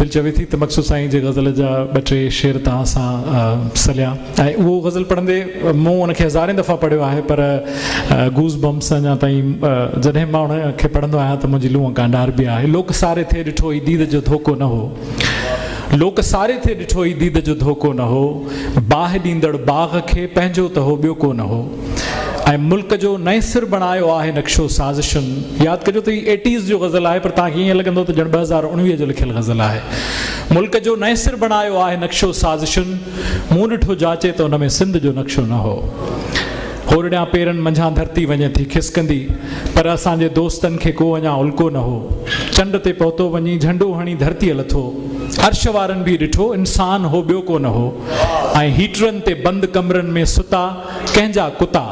دل چوي ٿي ته مقصود سائين جي غزل جا ٻه ٽي شعر توهان سان سليان ۽ اهو غزل پڙهندي مون ان کي هزارين دفعا پڙهيو آهي پر گوز بمس اڃا تائين جڏهن مان ان کي پڙهندو آهيان ته منهنجي لونء ڪانڊار بي آهي لوڪ ساري ٿئي ڏٺو ئي ديد جو ڌوڪو نه هو لوڪ ساري ٿئي ڏٺو ئي ديد جو ڌوڪو نه هو باهه ڏيندڙ باغ کي پنهنجو ته هو ٻيو ڪو نه هو ۽ ملڪ جو نئين سر بڻايو آهي نقشو سازشن ياد ڪجو ته هي ايٽيز جو غزل آهي پر توهان کي ائين لڳندو ته ڄڻ ٻه هزار اڻويهه جو لکيل غزل آهي ملڪ جو نئين سر بڻايو آهي نقشو سازشن مون ڏٺو جاچي ته ان ۾ سنڌ جو نقشو نه هو هورڙيان پيرن منجهان ڌرتي وڃي ٿي کسڪندي پر اسان جي دوستن کي ڪو اڃا الڪو نه هو چنڊ تي پهتو وڃي جهنڊو هڻي ڌرتيء لٿو عرش وارن به ڏٺو انسان هو ٻيو ڪو نه هو ۽ هيٽرن تي بند ڪمرن ۾ ستا ڪنهن جا ڪتا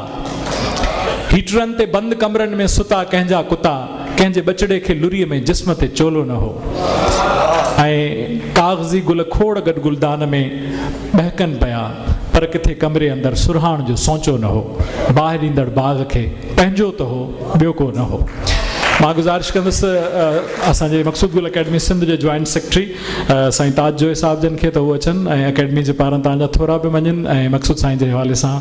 هيٽرن تي بند ڪمرن ۾ ستا ڪنهن جا ڪتا ڪنهن جي ٻچڙي کي لري ۾ جسم تي چولو نه هو ۽ ڪاغذي گل کوڙ گڏ گلدان ۾ ٻهڪن پيا پر ڪٿي ڪمري اندر سرهاڻ جو سونچو نه هو باهه ڏيندڙ باغ کي پنهنجو ته هو ٻيو ڪو نه هو مان گذارش ڪندس اسان جي مقصود گل اڪيڊمي سنڌ جي جوائنٽ سيڪريٽري سائين تاج جويي صاحب جن کي ته هو اچن ۽ اڪيڊمي جي پاران تان جا ٿورا به مڃين ۽ مقصود سائين جي حوالي سان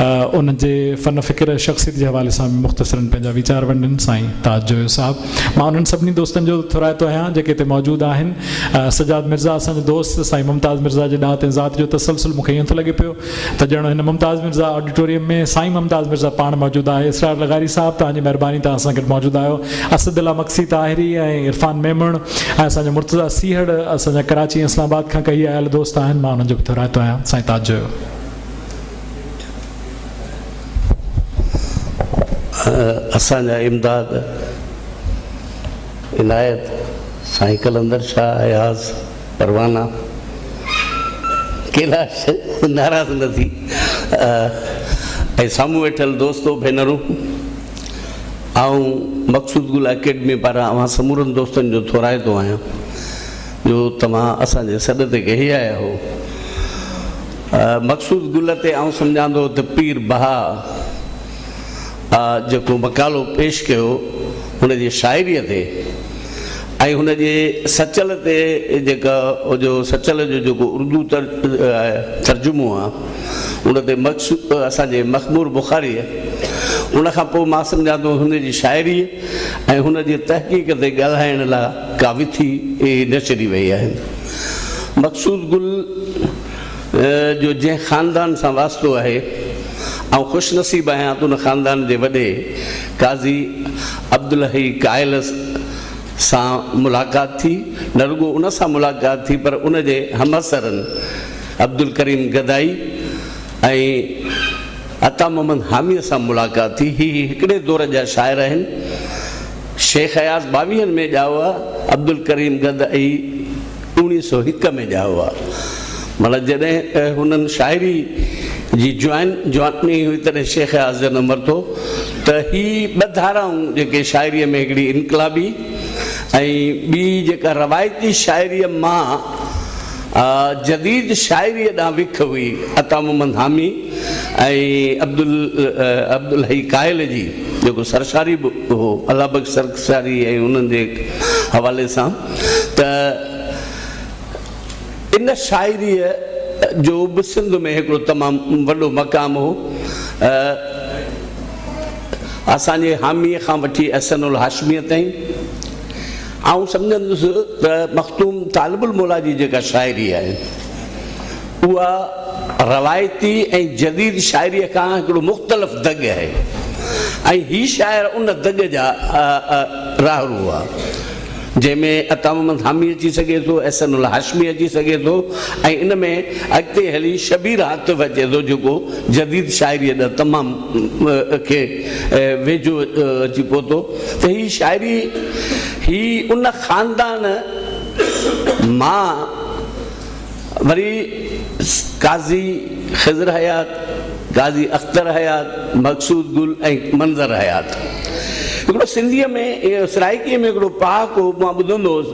انهن جي فن فڪر ۽ شخصيت جي حوالي سان به مختصرن پنهنجا ويچار ونڊن سائين تاج جويو صاحب مان انهن سڀني دوستن جو ٿورائتو آهيان جيڪي هتي موجود آهن سجاد مرزا اسان جو دوست سائين ممتاز مرزا جي ڏات ۽ ذات جو تسلسل مون کي ائين ٿو لڳي پيو ته ڄڻ هن ممتاز مرزا آڊيٽوريم ۾ سائين ممتاز مرزا پاڻ موجود آهي اسرار لغاري صاحب توهان جي مهرباني توهان سان گڏ موجود آهيو اسد الله مگسي طاهري ۽ عرفان ميمڻ ۽ اسان جو مرتضيٰ سيهڙ اسان جا ڪراچي ۽ اسلام آباد کان ڪهي آيل دوست آهن مان انهن جو به ٿورائتو آهيان سائين تاج جويو اسان جا امداد عنايت سائين قلندر شاهه اياز پروانا ڪيلاش ناراض نه ٿي ۽ سامهون ويٺل دوستو ڀينرون آئون مقصود گل اڪيڊمي پاران اوهان سمورن دوستن جو ٿورائتو آهيان جو توهان اسان جي سڏ تي ڪهي آيا آهيو مقصود گل تي آئون سمجهان ٿو ته پير بها آء جيڪو مقالو پيش ڪيو هن جي شاعريء تي ۽ هن جي سچل تي جيڪا جو سچل جو جيڪو اردو ترجمو آ ان تي مخصوص اسان جي مخمور بخاريء ان کان پوء مان سمجهان ٿو هن جي شاعريء ۽ هن جي تحقيق تي ڳالهائڻ لاء ڪا وٿي نه چري ويئي آهي مقصود گل جو جنهن خاندان سان واسطو آهي، آئون خوش نصيب آهيان ته ان خاندان جي وڏي قاضي عبدالحئي قائل سان ملاقات ٿي، نه رڳو ان سان ملاقات ٿي پر ان جي همعصرن عبدالڪريم گدائي ۽ عطا محمد حاميء سان ملاقات ٿي، هي هڪڙي دور جا شاعر آهن، شيخ اياز ٻاويهن ۾ ڄائو عبدالڪريم گدائي. اوڻيهه سؤ هڪ ۾ ڄائو آ معنيٰ جڏهن هنن شاعري جي جوان جواني هئي تڏهن شيخ اياز جڏهن مرتو ته هي ٻه ڌارائون جيڪي شاعريء ۾ هڪڙي انقلابي ۽ ٻي جيڪا روايتي شاعريء مان جديد شاعريء ڏانهن وک هئي عطا محمد حامي ۽ عبدالحئي ڪاهل جي جيڪو سرشاري به هو الله بخش سرشاري ۽ انهن جي حوالي سان ته ان شاعريء جو به سنڌ ۾ هڪڙو تمام وڏو مقام هو. اسان جي حاميء کان وٺي احسن الهاشميء تائين آئون سمجهان ٿس ته مخدوم طالب الموليٰ جي جيڪا شاعري آهي، اها روايتي ۽ جديد شاعريء کان هڪڙو مختلف دڳ آهي ۽ هي شاعر ان دڳ جا راهرو هئا. جنهن ۾ عطا محمد حامي اچي سگهي ٿو، احسن الهاشمي اچي سگهي ٿو ۽ ان ۾ اڳتي هلي شبير عاطف اچي ٿو جيڪو جديد شاعريء ڏانهن تمام کي ويجهو اچي پهتو ته هي شاعري هي ان خاندان مان وري قاضي خضر حيات، قاضي اختر حيات، مقصود گل ۽ منظر حيات. هڪڙو سنڌيء ۾ سرائڪيء ۾ هڪڙو پهاڪو مان ٻڌندو هوس،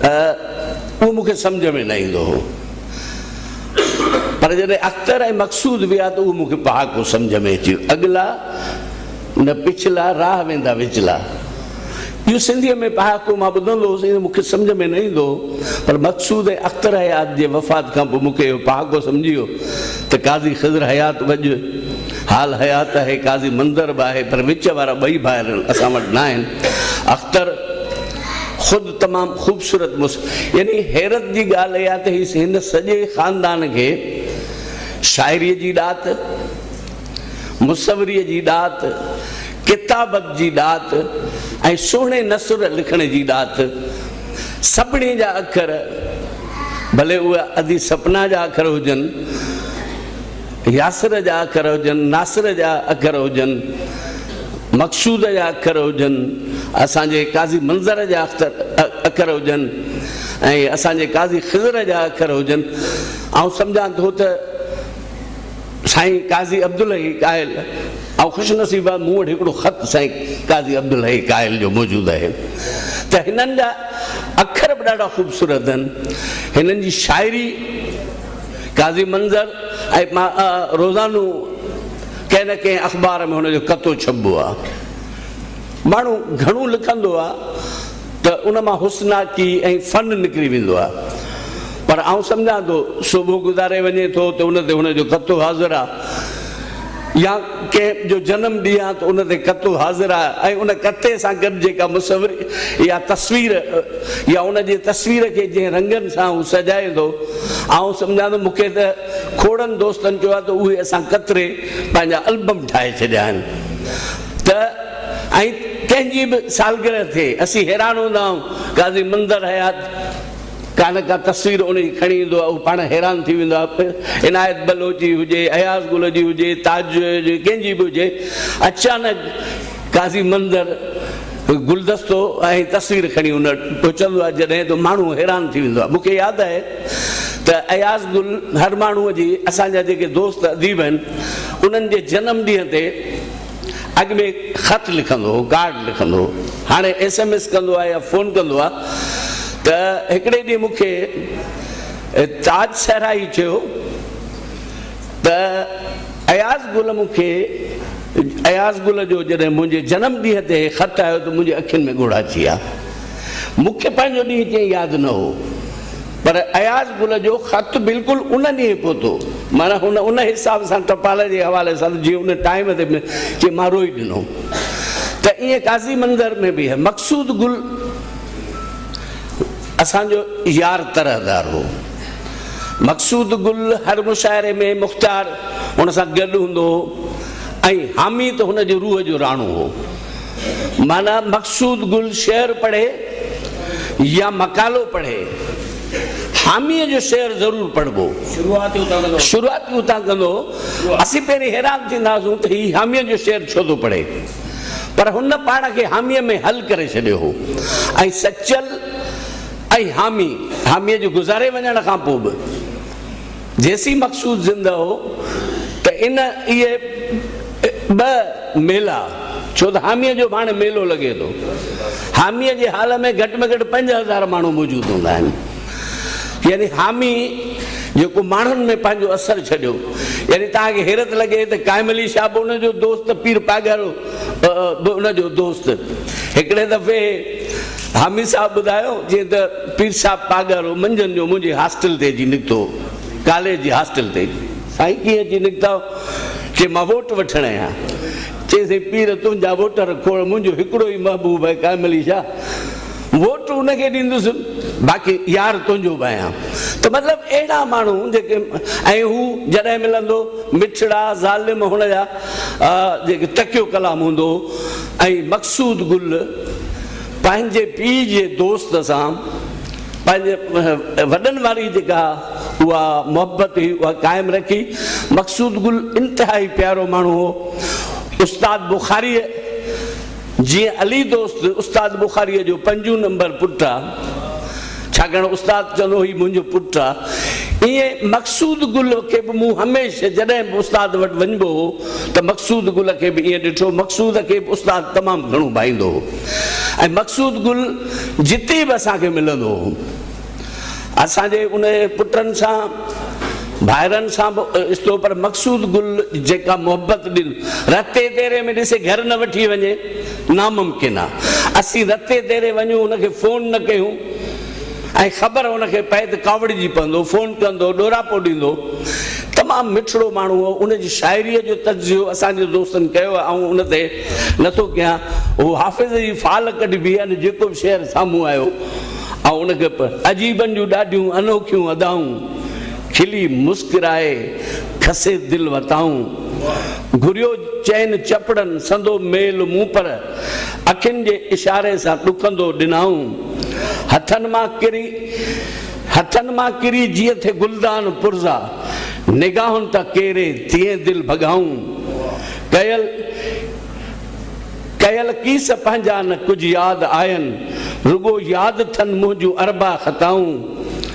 اهو مون کي سمجهه ۾ نه ايندو هو. پر جڏهن اختر ۽ مقصود ويا ته اهو مون کي پهاڪو سمجهه ۾ اچي ويو، اڳلا نه پڇلا، راهه ويندا وچلا. اهو سنڌيء ۾ پهاڪو مان ٻڌندو هوس، ايئن مون کي سمجهه ۾ نه ايندو هو، پر مقصود ۽ اختر حيات جي وفات کان پوء مون کي اهو پهاڪو سمجهي ويو ته قاضي خضر حيات وڄ حال حيات آهي، قاضي منظر به آهي، پر وچ وارا ٻئي ڀائر اسان وٽ ناهن. اختر خود تمام خوبصورت مس. يعني حيرت جي ڳالهه اها ته هي هن سڄي خاندان کي شاعريء جي ڏات، مصوريء جي ڏات، ڪتابت جي ڏات ۽ سهڻي نثر لکڻ جي ڏات. سڀني جا اکر، ڀلي اهي ادي سپنا جا اکر هجن، ياسر جا اکر هجن، ناصر جا اکر هجن، مقصود جا اکر هجن، اسان جي قاضي منظر جا اکر هجن ۽ اسان جي قاضي خضر جا اکر هجن، آئون سمجهان ٿو ته. سائين قاضي عبدالحي قائل، آئون خوش نصيب آهيان، مون وٽ هڪڙو خط سائين قاضي عبدالحي قائل جو موجود آهي ته هنن جا اکر به ڏاڍا خوبصورت آهن. هنن جي شاعري قاضي منظر ۽ مان روزانو ڪنهن نه ڪنهن اخبار ۾ هن جو ڪتو ڇپبو آهي. ماڻهو گهڻو لکندو آهي. ته ان مان حسناڪي ۽ فن نڪري ويندو آهي پر آئون سمجهان ٿو صوبو گذاري وڃي ٿو ته ان تي هن جو ڪتو حاضر آهي يا ڪنهن جو جنم ڏينهن آهي ته ان تي ڪتو حاضر آهي ۽ ان ڪتي سان گڏ جيڪا مصوري يا تصوير يا ان جي تصوير کي جنهن رنگن سان هو سجائي ٿو آئون سمجهان ٿو مون کي ته کوڙن دوستن چيو آهي ته اهي اسان ڪتري پنهنجا البم ٺاهي ڇڏيا آهن ته ۽ ڪنهن جي به سالگرهه ٿئي، اسين حيران هوندا آهيون. قاضي منظر حيات ڪا نه ڪا تصوير اڻي کڻي ايندو آهي، هو پاڻ حيران ٿي ويندو آهي. پوء عنايت بلوچ جي هجي، اياز گل جي هجي، تاج جويي جي هجي، ڪنهن جي به هجي، اچانڪ قاضي منظر گلدستو ۽ تصوير کڻي ان وٽ پهچندو آهي، جڏهن ته ماڻهو حيران ٿي ويندو آهي. مون کي ياد آهي ته اياز گل هر ماڻهوء جي، اسان جا جيڪي دوست اديب آهن، انهن جي جنم ڏينهن تي، اڳ ۾ خط لکندو هو، ڪارڊ لکندو هو، هاڻي ايس ايم ايس ڪندو آهي يا فون ڪندو آهي ته هڪڙي ڏينهن مون کي تاج صحرائي چيو ته اياز گل مون کي اياز گل جو جڏهن منهنجي جنم ڏينهن تي هي خط آيو ته منهنجي اکين ۾ ڳوڙها ٿي ويا. مون کي پنهنجو ڏينهن ڪيئي ياد نه هو. پر اياز گل جو خط بلڪل ان ڏينهن پهتو، معنيٰ هن ان حساب سان ٽپال جي حوالي سان ته جيئن ان ٽائيم تي جيئن مان روئي ڏنو ته ائين قاضي منظر ۾ به مقصود گل اسان جو يار طرحدار هو. مقصود گل هر مشاعري ۾ مختيار هن سان گڏ هوندو هو ۽ حامي ته هن جي روح جو راڻو هو. معنيٰ مقصود گل شعر پڙهي يا مقالو پڙهي، حاميء جو شعر ضرور پڙهبو. شروعات ئي اتان ڪندو. اسين پهرين حيران ٿيندا هئاسون ته هي حاميء جو شعر ڇو ٿو پڙهي؟ پر هن پاڻ کي حاميء ۾ حل ڪري ڇڏيو هو ۽ سچل ۽ حامي، حاميء جو گذاري وڃڻ کان پوء به، جيسين مقصود زنده هو ته ان اهي ٻه ميلا ڇو ته حاميء جو به هاڻي ميلو لڳي ٿو. حاميء جي هال ۾ گهٽ ۾ گهٽ پنج هزار ماڻهو موجود هوندا آهن. يعني حامي جيڪو ماڻهن ۾ پنهنجو اثر ڇڏيو. يعني توهان کي حيرت لڳي ته قائم علي شاهه به ان جو دوست ته پير پاڳارو به ان جو دوست. هڪڙي دفعي حامي صاحب ٻڌايو جئين ته. پير صاحب پاڳارو منجهند جو منهنجي هاسٽل تي اچي نڪتو هو. ڪاليج جي هاسٽل تي. سائين ڪيئن اچي نڪتاء؟ چي مان ووٽ وٺڻ آيو آهيان. چيس ائين پير تنهنجا ووٽر کوڙ منهنجو هڪڙو ئي محبوب آهي قائم علي شاهه. ووٽ ان کي ڏيندس باقي يار تنهنجو به آهيان. ته مطلب اهڙا ماڻهو جيڪي ۽ هو جڏهن ملندو مٺڙا ظالم هن جا جيڪي تڪيو ڪلام هوندو هو ۽ مقصود گل. پنهنجي پيء جي دوست سان پنهنجي وڏن واري جيڪا اها محبت هئي اها قائم رکي. مقصود گل انتهائي پيارو ماڻهو هو. استاد بخاريء جيئن علي دوست استاد بخاريء جو پنجون نمبر پٽ آ. ڇاڪاڻ استاد چوندو هي منهنجو پٽ آ. ائين مقصود گل کي به مون هميشه جڏهن به استاد وٽ وڃبو هو ته مقصود گل کي به ائين ڏٺو. مقصود کي به استاد تمام گهڻو ڀائيندو هو ۽ مقصود گل جتي به اسان کي ملندو هو اسان جي ان پٽن سان ڀائرن سان به استو پر مقصود گل جيڪا محبت ڏل رتي تيري ۾ ڏسي گهر نه وٺي وڃي. ناممڪن آ اسين رتي تيري وڃون ان کي فون نه ڪيون ۽ خبر ان کي پئي ته ڪاوڙجي پوندو فون ڪندو ڏوراپو ڏيندو تمام مٺڙو ماڻهو هو ان جي شاعريء جو تجزيو اسان جي دوستن ڪيو آ آئون ان تي نه ٿو ڪيان هو حافظ جي فال ڪڍبي ان جيڪو به شعر سامهون آيو آئون ان کي عجيبن جون ڏاڍيون انوکيون ادائون. کلي مسڪرائي کسي دل وتائون. گهريو چئن چپڙن سندو ميل مون پر اکين جي اشاري سان ڏڪندو ڏنائون. هٿن مان ڪري هٿن مان ڪري جيئن ٿئي گلدان پرزا نگاهن تان ڪيري تيئن دل ڀڳائون. ڪيل. ڪيل ڪيس پنهنجا نه ڪجهه ياد آين رڳو ياد ٿن منهنجون اربع خطائون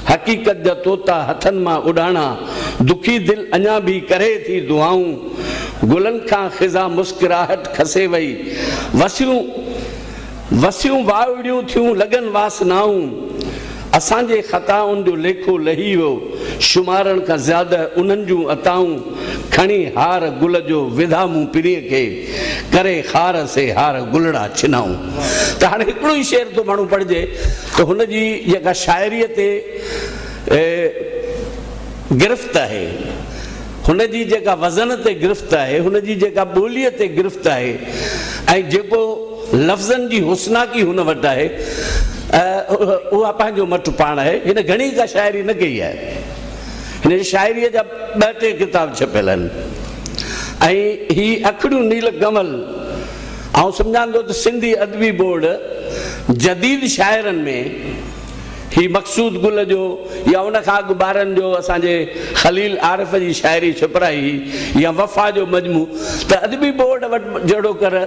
حقيقت جا طوطا هٿن مان اڏاڻا دکي دل اڃا ڀي ڪري ٿي دعائون گلن کان خزان مسڪراهٽ کسي وئي وسيون وسيون واءڙيون ٿيون لڳن واسنائون. اسان جي خطائن جو ليکو لهي ويو، شمارڻ کان زياده انهن جون عطائون، کڻي هار گل جو وڌا مون پرينء کي، ڪري خار سي هار گلڙا ڇنائون. ته هاڻي هڪڙو ئي شعر ٿو ماڻهو پڙهجي ته هن جي جيڪا شاعريء تي گرفت آهي، هن جي جيڪا وزن تي گرفت آهي، هن جي جيڪا ٻوليء تي گرفت آهي ۽ جيڪو لفظن جي حسناڪي هن وٽ آهي، اها پنهنجو مٽ پاڻ آهي. هن گهڻي ڪا شاعري نه ڪئي آهي. هن جي شاعريء جا ٻه ٽي ڪتاب ڇپيل آهن ۽ هي اکڙيون نيل ڪمل آئون سمجهان ٿو ته سنڌي ادبي بورڊ جديد شاعرن ۾، هي مقصود گل جو يا ان کان اڳ ٻارن جو اسان جي خليل عارف جي شاعري ڇپرائي هئي يا وفا جو مجموع ته ادبي بورڊ وٽ جهڙوڪر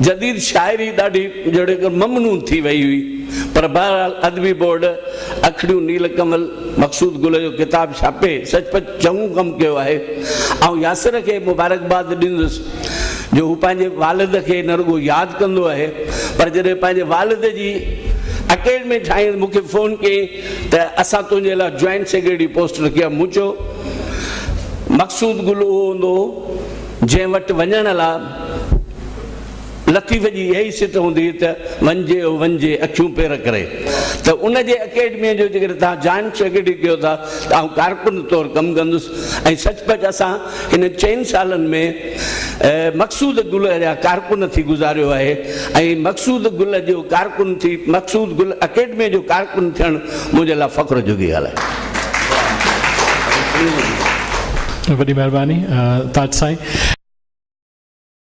جديد شاعري ڏاڍي جهڙوڪر ممنون ٿي وئي هئي پر بهرحال ادبي بورڊ اکڙيون نيل ڪمل مقصود گل جو ڪتاب ڇاپي سچ پچ چڱو ڪم ڪيو آهي. آئون ياسر کي مبارڪباد ڏيندس جو هو پنهنجي والد کي نه رڳو ياد ڪندو آهي پر جڏهن پنهنجي والد جي اڪيڊمي ٺاهين مون کي فون ڪيائين ته اسان تنهنجي لاء جوائنٽ سيڪريٽري پوسٽ رکي آهي. مون چيو مقصود گل اهو هوندو هو جنهن وٽ وڃڻ لاء. لطيف جي اها ئي سٽ هوندي هئي ته وڃجي او وڃجي اکيون پير ڪري ته ان جي اڪيڊميء جو جيڪڏهن توهان جوائن سيڪريٽري ڪيو ٿا ته آئون ڪارڪن طور ڪم ڪندس ۽ سچ پچ اسان انهن چئن سالن ۾ مقصود گل جا ڪارڪن ٿي گذاريو آهي ۽ مقصود گل جو ڪارڪن ٿي مقصود گل اڪيڊميء جو ڪارڪن ٿيڻ منهنجي لاء فخر جوڳي ڳالهه آهي. وڏي مهرباني تاج سائين.